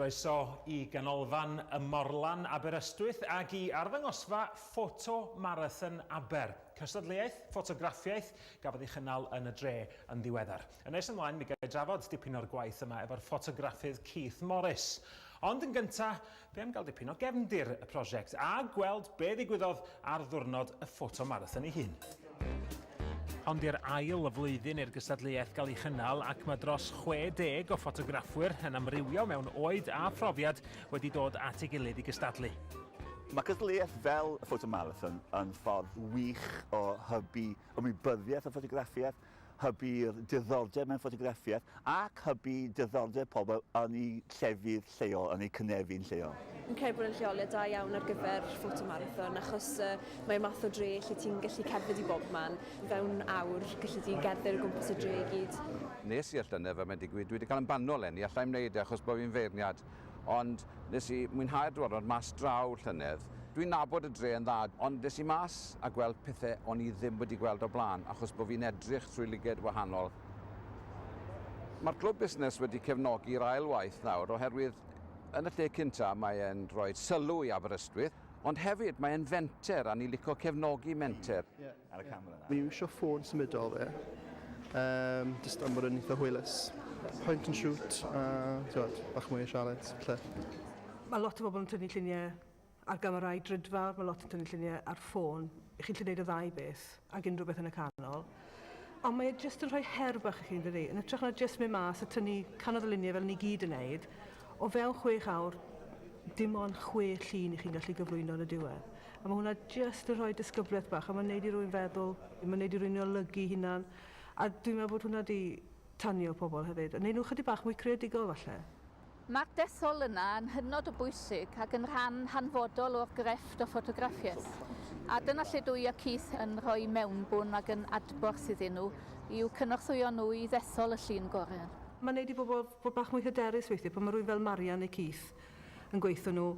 Croeso i Ganolfan y Morlan Aberystwyth ac i arddangosfa Ffoto Marathon Aber, cystadleuaeth ffotograffiaeth gafodd ei chynnal yn y dre yn ddiweddar. Yn nes ymlaen mi ga'i drafod dipyn o'r gwaith yma efo'r ffotograffydd Keith Morris. Ond yn gynta', be' am gael dipyn o gefndir y prosiect a gweld be' ddigwyddodd ar ddiwrnod y Ffoto Marathon ei hun. Hon di'r ail flwyddyn i'r gystadleuaeth gael ei chynnal ac mae dros 60 o ffotograffwyr yn amrywio mewn oed a phrofiad wedi dod at ei gilydd i gystadlu. Mae cystadleuaeth fel y Photo Marathon yn ffordd wych o hybu ymwybyddiaeth o ffotograffiaeth hybu diddordeb mewn ffotograffiaeth ac hybu diddordeb pobl yn eu llefydd lleol, yn eu cynefin lleol. Fi'n credu bod e'n lleoliad da iawn ar gyfer ffotomarathon achos yy mae'r math o dre lle ti'n gallu cerdded i bobman, fewn awr gallu di gerdded o gwmpas y dre i gyd. Nes i'r llynedd fel mae'n digwydd dwi 'di cael yn banwl eleni, alla i'm wneud e achos bo fi'n feirniad. ond nes i mwynhau'r diwrnod mas draw llynedd. Dwi'n nabod y dre yn dda, ond des i mas a gweld pethe o'n i ddim wedi gweld o'r blaen achos bo fi'n edrych trwy lyged wahanol. Mae'r clwb busnes wedi cefnogi'r ail waith nawr oherwydd yn y lle cynta mae e'n rhoi sylw i Aberystwyth, ond hefyd mae e'n fenter a ni lico cefnogi menter. ar y camera nawr. Fi'n iwsio ffôn symudol fi, um, just am bod yn eitha hwylus. Point and shoot, a tiwod, bach mwy o sialens, lle. Mae lot o bobl yn tynnu lluniau ar gamerau drydfa, mae lot yn tynnu lluniau ar ffôn. I chi'n lle gwneud y ddau beth, ac unrhyw beth yn y canol. Ond mae e jyst yn rhoi her bach i chi'n dydi, yn ytrach na jyst mynd mas a tynnu canodd y luniau fel ni gyd yn neud, o fewn chwech awr, dim ond chwe llun i chi'n gallu gyflwyno yn y diwedd. A ma' hwnna jyst yn rhoi disgyblaeth bach a ma'n neud i rywun feddwl, ma'n neud i rywun olygu 'i hunan, a dwi'n meddwl bod hwnna 'di tanio pobl hefyd, a neud nhw chydig bach mwy creadigol falle. Mae'r dethol yna yn hynod o bwysig ac yn rhan hanfodol o'r grefft o ffotograffiaeth, a dyna lle dw i a Keith yn rhoi mewnbwn ac yn adborth iddyn nhw, i'w cynorthwyo nhw i ddethol y llun gorau. Ma'n neud i bobl fod bach mwy hyderus weithiau pan ma' rywun fel Marian neu Keith yn gweitho nhw,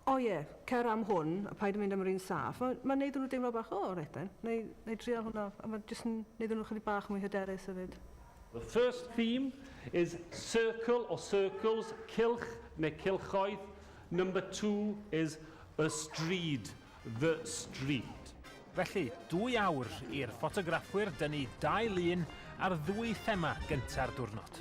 O ie, cer am hwn a paid â mynd am yr un saff. Mae mae'n wneud i nhw deimlo bach, 'O, reit then, wna i wna i dreial hwnna'. A mae jyst yn wneud iddyn nhw chydig bach mwy hyderus hefyd. The first theme is circle or circles, cylch neu cylchoedd. Number two is a stryd, the street. Felly, dwy awr i'r ffotograffwyr dynnu dau lun ar ddwy thema gynta'r diwrnod.